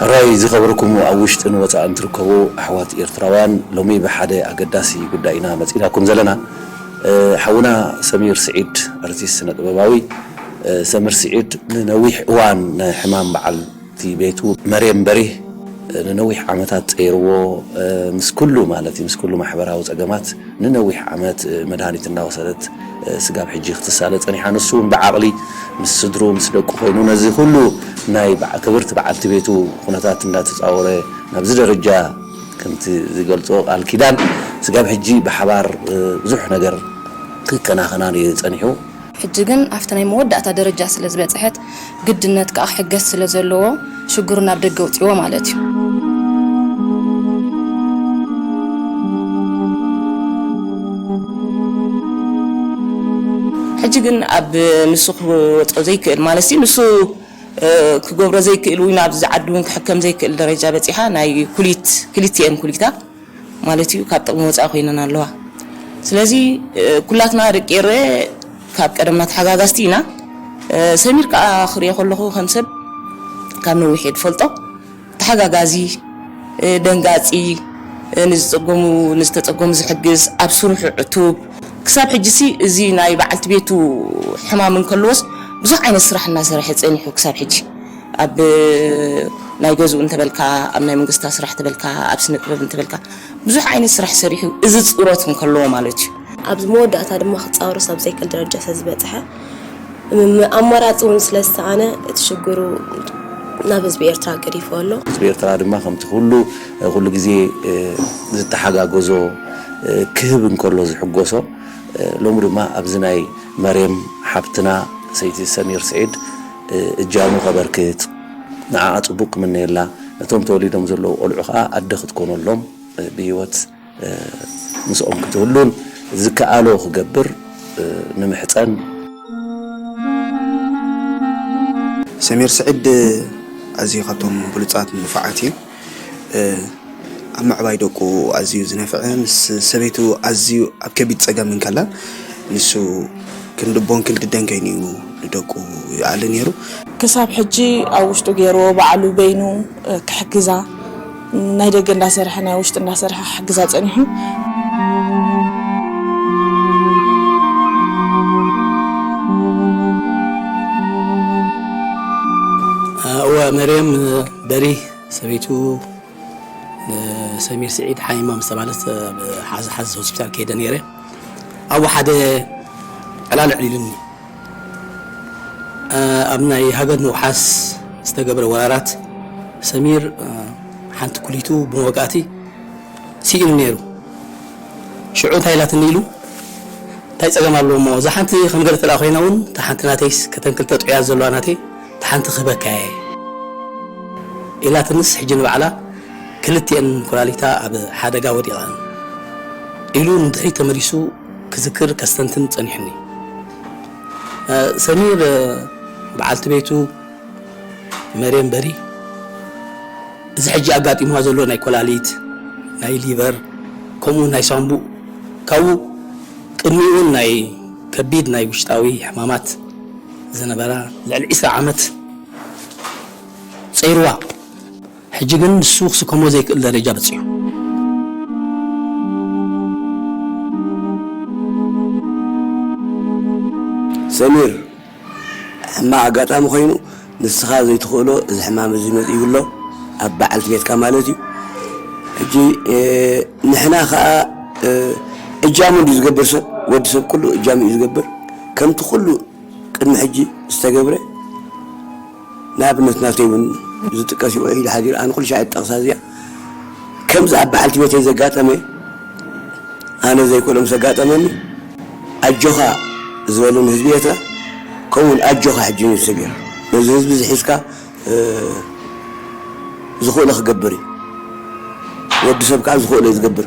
ሕራይ ዝኸበርኩም ኣብ ውሽጥን ወጻእን ትርከቡ ኣሕዋት ኤርትራውያን ሎሚ ብሓደ ኣገዳሲ ጉዳይ ኢና መጺእናኩም ዘለና ሓውና ሰሚር ስዒድ ኣርቲስት ስነ ጥበባዊ ሰምር ስዒድ ንነዊሕ እዋን ንሕማም በዓል እቲ ቤቱ መርየም በሪህ ንነዊሕ ዓመታት ጸይርዎ ምስ ኩሉ ማለት ምስ ኩሉ ማሕበራዊ ጸገማት ንነዊሕ ዓመት መድሃኒት እናወሰደት ስጋብ ሕጂ ክትሳለ ጸኒሓ። ንሱ እውን ብዓቕሊ ምስ ስድርኡ ምስ ደቁ ኮይኑ ነዚ ኩሉ ናይ ክብርቲ በዓልቲ ቤቱ ኩነታት እንዳተጻወረ ናብዚ ደረጃ ከምቲ ዝገልጾ ቃል ኪዳን ስጋብ ሕጂ ብሓባር ብዙሕ ነገር ክከናኸናን እዩ ጸኒሑ። ሕጂ ግን ኣብቲ ናይ መወዳእታ ደረጃ ስለ ዝበጽሐት፣ ግድነት ከኣ ክሕገዝ ስለ ዘለዎ፣ ሽግሩ ናብ ደገ ኣውጺእዎ ማለት እዩ። ሕጂ ግን ኣብ ንሱ ክወጾ ዘይክእል ማለትሲ ንሱ ክገብሮ ዘይክእል ውይ ናብዚ ዓዲ ውን ክሕከም ዘይክእል ደረጃ በጺሓ ናይ ኩሊት ክሊቲኤን ኩሊታ ማለት እዩ ካብ ጥቕሚ ወፃኢ ኮይነን ኣለዋ ስለዚ ኩላትና ደቂ ኤረየ ካብ ቀደምና ተሓጋጋዝቲ ኢና ሰሚር ከዓ ክሪኦ ከለኹ ከም ሰብ ካብ ነዊሕ እየ ዝፈልጦ ተሓጋጋዚ ደንጋፂ ንዝፀገሙ ንዝተፀገሙ ዝሕግዝ ኣብ ስርሑ ዕቱብ ክሳብ ሕጂሲ እዚ ናይ በዓልቲ ቤቱ ሕማም እንከለዎስ ብዙሕ ዓይነት ስራሕ እናሰርሐ ፀኒሑ ክሳብ ሕጂ ኣብ ናይ ገዝኡ እንተበልካ፣ ኣብ ናይ መንግስታ ስራሕ ተበልካ፣ ኣብ ስነጥበብ እንተበልካ ብዙሕ ዓይነት ስራሕ ሰሪሑ እዚ ጽሮት እንከለዎ ማለት እዩ። ኣብ መወዳእታ ድማ ክጻወሮስ ኣብ ዘይክእል ደረጃ ስለ ዝበጽሐ፣ ም ኣማራጺ ውን ስለ ዝሰኣነ እቲ ሽግሩ ናብ ህዝቢ ኤርትራ ገዲፍዎ ኣሎ። ህዝቢ ኤርትራ ድማ ከምቲ ኩሉ ኩሉ ግዜ ዝተሓጋገዞ ክህብ እንከሎ ዝሕጎሶ፣ ሎሚ ድማ ኣብዚ ናይ መሬም ሓብትና ሰይቲ ሰሚር ስዒድ፣ እጃሙ ከበርክት ንዓኣ ጽቡቅ ክምነየላ ነቶም ተወሊዶም ዘለዉ ቆልዑ ከኣ ኣደ ክትኮነሎም ብሂወት ምስኦም ክትህሉን ዝከኣሎ ክገብር ንምሕጸን። ሰሚር ስዒድ ኣዝዩ ካብቶም ብሉጻት ንፉዓት እዩ። ኣብ ምዕባይ ደቁ ኣዝዩ ዝነፍዐ ምስ ሰበይቱ ኣዝዩ ኣብ ከቢድ ጸገም እንከላ ንሱ ክንዲ ቦን ክንዲ ደን ከይኑ እዩ ንደቁ ይኣሊ ነይሩ። ክሳብ ሕጂ ኣብ ውሽጡ ገይርዎ ባዕሉ በይኑ ክሕግዛ ናይ ደገ እንዳሰርሐ ናይ ውሽጢ እንዳሰርሐ ክሕግዛ ጸኒሑ እወ መርየም በሪ ሰበይቱ ንሰሚር ስዒድ ሓይማ ምስ ተባህለት ኣብ ሓዝ ሓዝ ሆስፒታል ከይደ ነይረ ኣብ ሓደ ዕላል ኣዕሊሉኒ ኣብ ናይ ሃገር ምውሓስ ዝተገብረ ወራራት ሰሚር ሓንቲ ኩሊቱ ብመወቃእቲ ስኢኑ ነይሩ ሽዑ እንታይ ኢላትኒ ኢሉ እንታይ ፀገም ኣለዎ እሞ እዛ ሓንቲ ከም ገለ ተለኣ ኮይና እውን እታ ሓንቲ ናተይስ ከተን ክልተ ጥዑያት ዘለዋ ናተይ ሓንቲ ክህበካ'የ ኢላትንስ ሕጂ ንባዕላ ክልቲኤን ኩላሊታ ኣብ ሓደጋ ወዲቐን ኢሉ ንድሕሪት ተመሊሱ ክዝክር ከስተንትን ጸኒሑኒ። ሰሚር በዓልቲ ቤቱ መርየም በሪ እዚ ሕጂ ኣጋጢምዋ ዘሎ ናይ ኮላሊት ናይ ሊቨር ከምኡውን ናይ ሳንቡእ ካብኡ ቅድሚኡን ናይ ከቢድ ናይ ውሽጣዊ ሕማማት ዝነበራ ልዕሊ ዕስራ ዓመት ጸይሩዋ ሕጂ ግን ንሱ ክስከሞ ዘይክእል ደረጃ በጺሑ። ሰሚር፣ ሕማቕ ኣጋጣሚ ኮይኑ ንስኻ ዘይትኽእሎ እዚ ሕማም እዚ መጺኡ ኣሎ፣ ኣብ በዓልቲ ቤትካ ማለት እዩ። ሕጂ ንሕና ከኣ እጃሙ እንድዩ ዝገብር ሰብ ወዲ ሰብ ኩሉ እጃሙ እዩ ዝገብር። ከምቲ ኩሉ ቅድሚ ሕጂ ዝተገብረ ንኣብነት ናተይ እውን ዝጥቀስ እዩ ኢለ ሓዚረ ኣነ ኩሉ ሻዕ ጠቕሳ እዚኣ ከምዚ ኣብ በዓልቲ ቤተይ ዘጋጠመ ኣነ ዘይኮሎ ምስ ኣጋጠመኒ ኣጆኻ ዝበለኒ ህዝቢ ኤርትራ ከምኡውን ኣጆኻ ሕጂ ኒውስ ተገይሩ ነዚ ህዝቢ ዝሒዝካ ዝኽእሎ ክገብር እዩ ወዲ ሰብ ከዓ ዝኽእሎ እዩ ዝገብር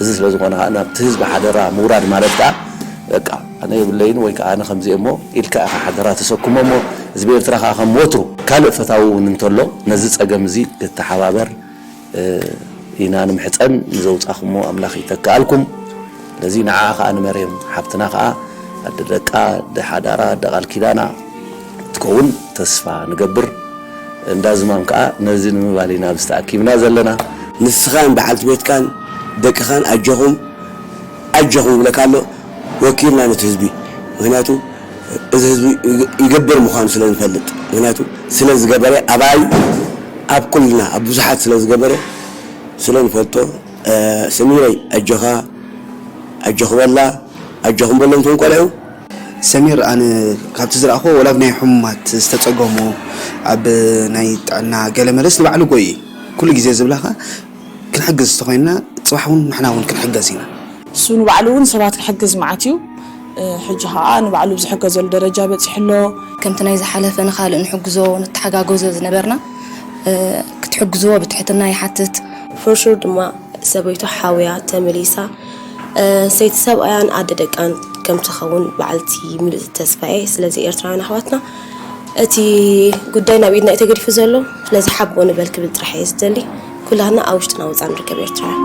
እዚ ስለ ዝኾነ ከኣ ናብቲ ህዝቢ ሓደራ ምውራድ ማለት ከኣ በቃ ኣነ የብለይን ወይ ከኣ ኣነ ከምዚ እየ እሞ ኢልካ ኢኻ ሓደራ ተሰክሞ እሞ ህዝቢ ኤርትራ ከኣ ከም ወትሩ ካልእ ፈታዊ እውን እንተሎ ነዚ ጸገም እዚ ክተሓባበር ኢና ንምሕጸን ንዘውጻኹሞ ኣምላኽ ይተክኣልኩም ስለዚ ንዓኣ ከኣ ንመርየም ሓብትና ከኣ ኣደ ደቃ ኣደ ሓዳራ ኣደ ቃል ኪዳና ክትከውን ተስፋ ንገብር። እንዳ ዝማም ከኣ ነዚ ንምባል ኢና ኣብዚ ተኣኪብና ዘለና። ንስኻን በዓልቲ ቤትካን ደቅኻን ኣጆኹም ኣጆኹም ይብለካ ኣሎ ወኪልና ነቲ ህዝቢ ምኽንያቱ እዚ ህዝቢ ይገብር ምዃኑ ስለ ንፈልጥ ምኽንያቱ ስለ ዝገበረ ኣባይ ኣብ ኩልና ኣብ ብዙሓት ስለ ዝገበረ ስለ ንፈልጦ ሰሚረይ ኣጆኻ ኣጆኺ በላ ኣጆኹም በሎም እቶም ቆልዑ። ሰሚር ኣነ ካብቲ ዝረኣክዎ ወላ ብናይ ሑሙማት ዝተጸገሙ ኣብ ናይ ጥዕና ገለ መለስ ንባዕሉ ጎይ እዩ ኩሉ ግዜ ዝብላ ከኣ ክንሕግዝ ተኮይንና ጽባሕ ውን ንሕና ውን ክንሕገዝ ኢና ንሱ ንባዕሉ ውን ሰባት ክሕግዝ መዓት እዩ ሕጂ ከኣ ንባዕሉ ኣብ ዝሕገዘሉ ደረጃ በጺሑ ኣሎ። ከምቲ ናይ ዝሓለፈ ንካልእ ንሕግዞ ንተሓጋገዞ ዝነበርና ክትሕግዝዎ ብትሕትና ይሓትት። ፎርሹር ድማ ሰበይቱ ሓውያ ተመሊሳ። ሰይቲ ሰብኣያን ኣደ ደቃን ከም ትኸውን በዓልቲ ምሉእ ተስፋዬ ስለዚ ኤርትራውያን ኣሕዋትና እቲ ጉዳይ ናብ ኢድና እዩ ተገዲፉ ዘሎ ስለዚ ሓቦ ንበል ክብል ጥራሕ እየ ዝደሊ ኩላትና ኣብ ውሽጥና ወፃ ንርከብ ኤርትራውያን